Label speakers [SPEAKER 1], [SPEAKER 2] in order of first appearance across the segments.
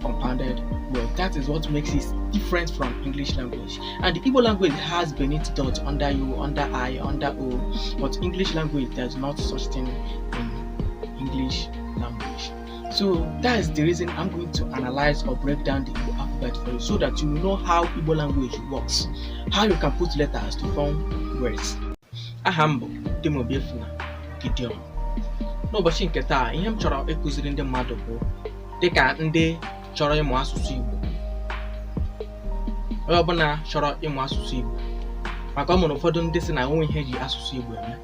[SPEAKER 1] compounded word. That is what makes it different from English language. And the Igbo language has beneath dot under U, under I, under O, but English language does not such thing in English language. So that is the reason I'm going to analyze or break down the Igbo alphabet for you so that you know how Igbo language works, how you can put letters to form words. Aha m bụ Dimobiefuna Gideon. N'ụbọchị nke taa, ihe m chọrọ ịkụziri ndị mmadụ bụ dịka ndị chọrọ ịmụ asụsụ Igbo onye ọbụla chọrọ ịmụ asụsụ Igbo maka o nwere ụfọdụ ndị si na onweghị ihe eji asụsụ Igbo eme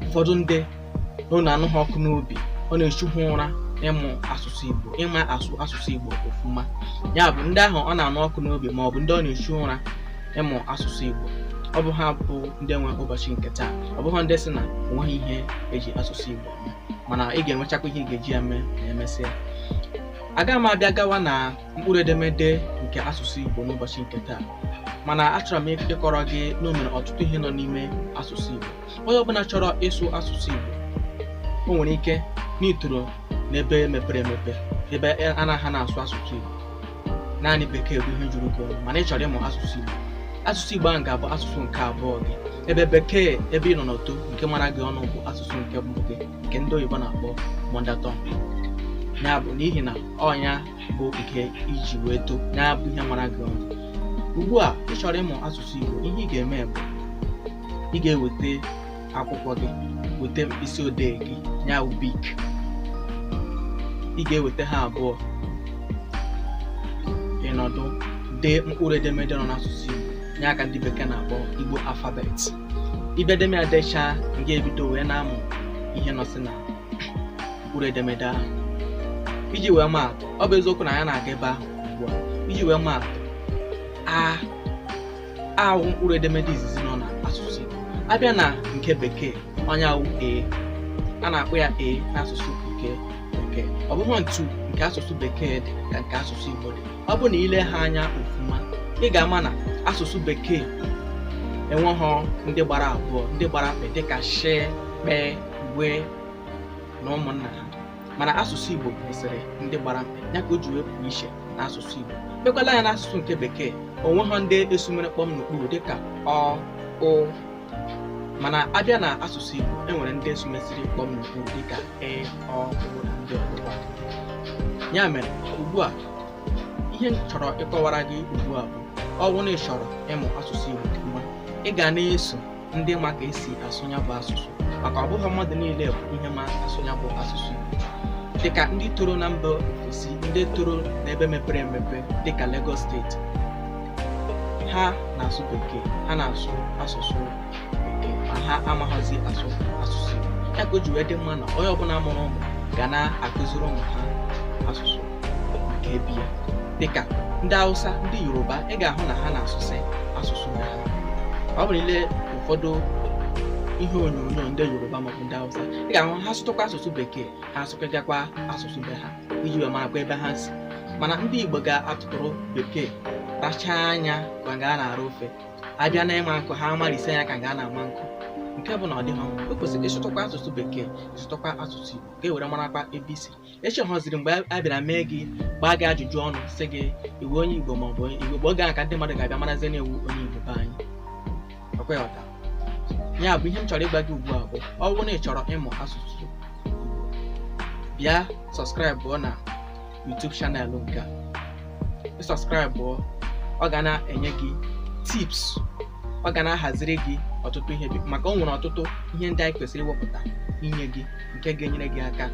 [SPEAKER 1] ụfọdụ ndị ọ na-anụ ha ọkụ n'obi ọ na-echu ha ụra ịmụ asụsụ Igbo ịma asụ asụsụ Igbo ọfụma ya bụ ndị ahụ ọ na-anụ ọkụ n'obi ma ọ bụ ndị ọ na-echu ụra ịmụ asụsụ Igbo ọ bụ ha bụ ndị nwe ụbọchị nke taa ọ bụghị ndị si na onweghị ihe eji asụsụ Igbo mana ị ga-enwechakwa ihe ị ga-eji ya mee ma emesịa aga m abịa gawa na mkpụrụ edemede nke asụsụ Igbo n'ụbọchị nke taa mana achọrọ m ịkọrọ gị na o nwere ọtụtụ ihe nọ n'ime asụsụ Igbo onye ọbụla chọrọ ịsụ asụsụ Igbo o nwere ike na i toro n'ebe mepere emepe ebe anaghị na-asụ asụsụ Igbo naanị bekee bụ ihe juru gị ọnụ mana ị chọrọ ịmụ asụsụ igbo asụsụ igbo ahụ ga-abụ asụsụ nke abụọ gị ebe bekee ebe ị nọ na-eto nke mara gị ọnụ bụ asụsụ nke mbụ gị nke ndị oyibo na-akpọ mother tongue ya bụ n'ihi na ọ nya bụ nke i ji wee too ya bụ ihe mara gị ọnụ ugbu a ị chọrọ ịmụ asụsụ igbo ihe ị ga-eme bụ ị ga-eweta akwụkwọ gị weta mkpịsị odee gị ya wụ bik ị ga-eweta ha abụọ ị nọdụ dee mkpụrụ edemede nọ n'asụsụ Igbo ya ka ndị bekee na-akpọ Igbo alphabet ị bịa deme ya dechaa ị ga-ebido wee na-amụ ihe nọsị na mkpụrụ edemede ahụ iji wee maa atụ ọ bụ eziokwu na anyị na-aga ebe ahụ ugbu a iji wee maa atụ a a wụ mkpụrụ edemede izizi nọ na asụsụ Igbo abịa na nke bekee ọ nya wụ e a na-akpọ ya e n'asụsụ nke bekee ọ bụghị otu nke asụsụ bekee dị ka nke asụsụ Igbo dị ọ bụ na i lee ha anya ọfụma ị ga-ama na asụsụ bekee enweghị ndị gbara abụọ ndị gbara mkpị dịka she kpee gwee na ụmụnna ha mana asụsụ Igbo nwesịrị ndị gbara mkpị ya ka o ji wee pụọ iche n'asụsụ Igbo lekwala anya n'asụsụ nke bekee onweghị ndị esumere kpọm n'okpuru dịka ọ ụ mana abịa na asụsụ Igbo enwere ndị esumesiri kpọm n'okpuru dịka ị ọ ụ na ndị ọzọkwa ya mere ugbu a ihe m chọrọ ịkọwara gị ugbu a bụ ọ bụrụ na ị chọrọ ịmụ asụsụ Igbo ọfụma ị ga na-eso ndị ma ka esi asụ ya bụ asụsụ maka ọ bụghị mmadụ niile bụ ihe ma asụ ya bụ asụsụ dịka ndị toro na mba ofesi ndị toro n'ebe mepere emepe dịka Lagos state ha na-asụ bekee ha na-asụ asụsụ bekee ma ha amaghịzi asụ asụsụ ya ka o ji wee dị mma na onye ọbụla mụrụ ụmụ ga na-akụziri ụmụ ha asụsụ nke be ya dịka ndị Hausa ndị Yoruba ị ga-ahụ na ha na-asụsị asụsụ ha ọ bụrụ i lee ụfọdụ ihe onyonyo ndị Yoruba maọbụ ndị Hausa ị ga-ahụ ha sụtụkwa asụsụ bekee ha asụkọtakwa asụsụ be ha iji wee marakwa ebe ha si mana ndị Igbo ga-atụtụrụ bekee rachaa ya ka nga a na-ara ofe abịa na ịma nkụ ha amalise ya ka nga a na-ama nkụ nke bụ na ọ dịghị mma o kwesịrị ịsụtụkwa asụsụ bekee ịsụtụkwa asụsụ Igbo ka e were marakwa ebe i si echi ọ họziri mgbe a bịara mee gị gbaa gị ajụjụ ọnụ sị gị i wu onye igbo ma ọ bụ onye igbo bụ oge ahụ ka ndị mmadụ ga-abịa marazie na i wu onye igbo be anyị ọkwa ị ghọta ya bụ ihe m chọrọ ịgwa gị ugbu a bụ ọ bụrụ na ị chọrọ ịmụ asụsụ Igbo, bịa subscribe na YouTube channel nke a ị subscribe ọ ga na-enye gị tips ọ ga na-ahaziri gị ọtụtụ ihe maka o nwere ọtụtụ ihe ndị anyị kwesịrị iwepụta inye gị nke ga-enyere gị aka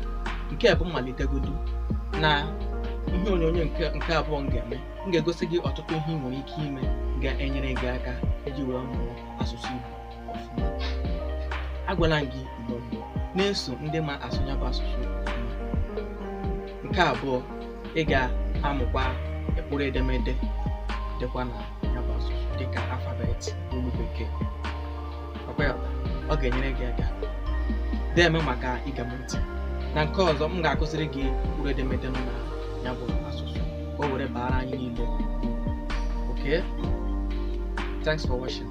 [SPEAKER 1] nke bụ mmalitegodu na ihe onyonyo nke abụọ m ga-eme m ga-egosi gị ọtụtụ ihe ị nwere ike ime ga-enyere gị aka iji wee mụọ asụsụ Igbo ọfụma agwala m gị ị ga na-eso ndị ma asụ ya bụ asụsụ nke abụọ ị ga-amụkwa mkpụrụ edemede dịkwa na ya bụ asụsụ dịka alfabet olu bekee ọ ga-enyere gị aka deeme maka ige m ntị na nke ọzọ m ga-akụziri gị mkpụrụ edemede nọ na ya bụ asụsụ ka o were baara anyị niile okay thanks for watching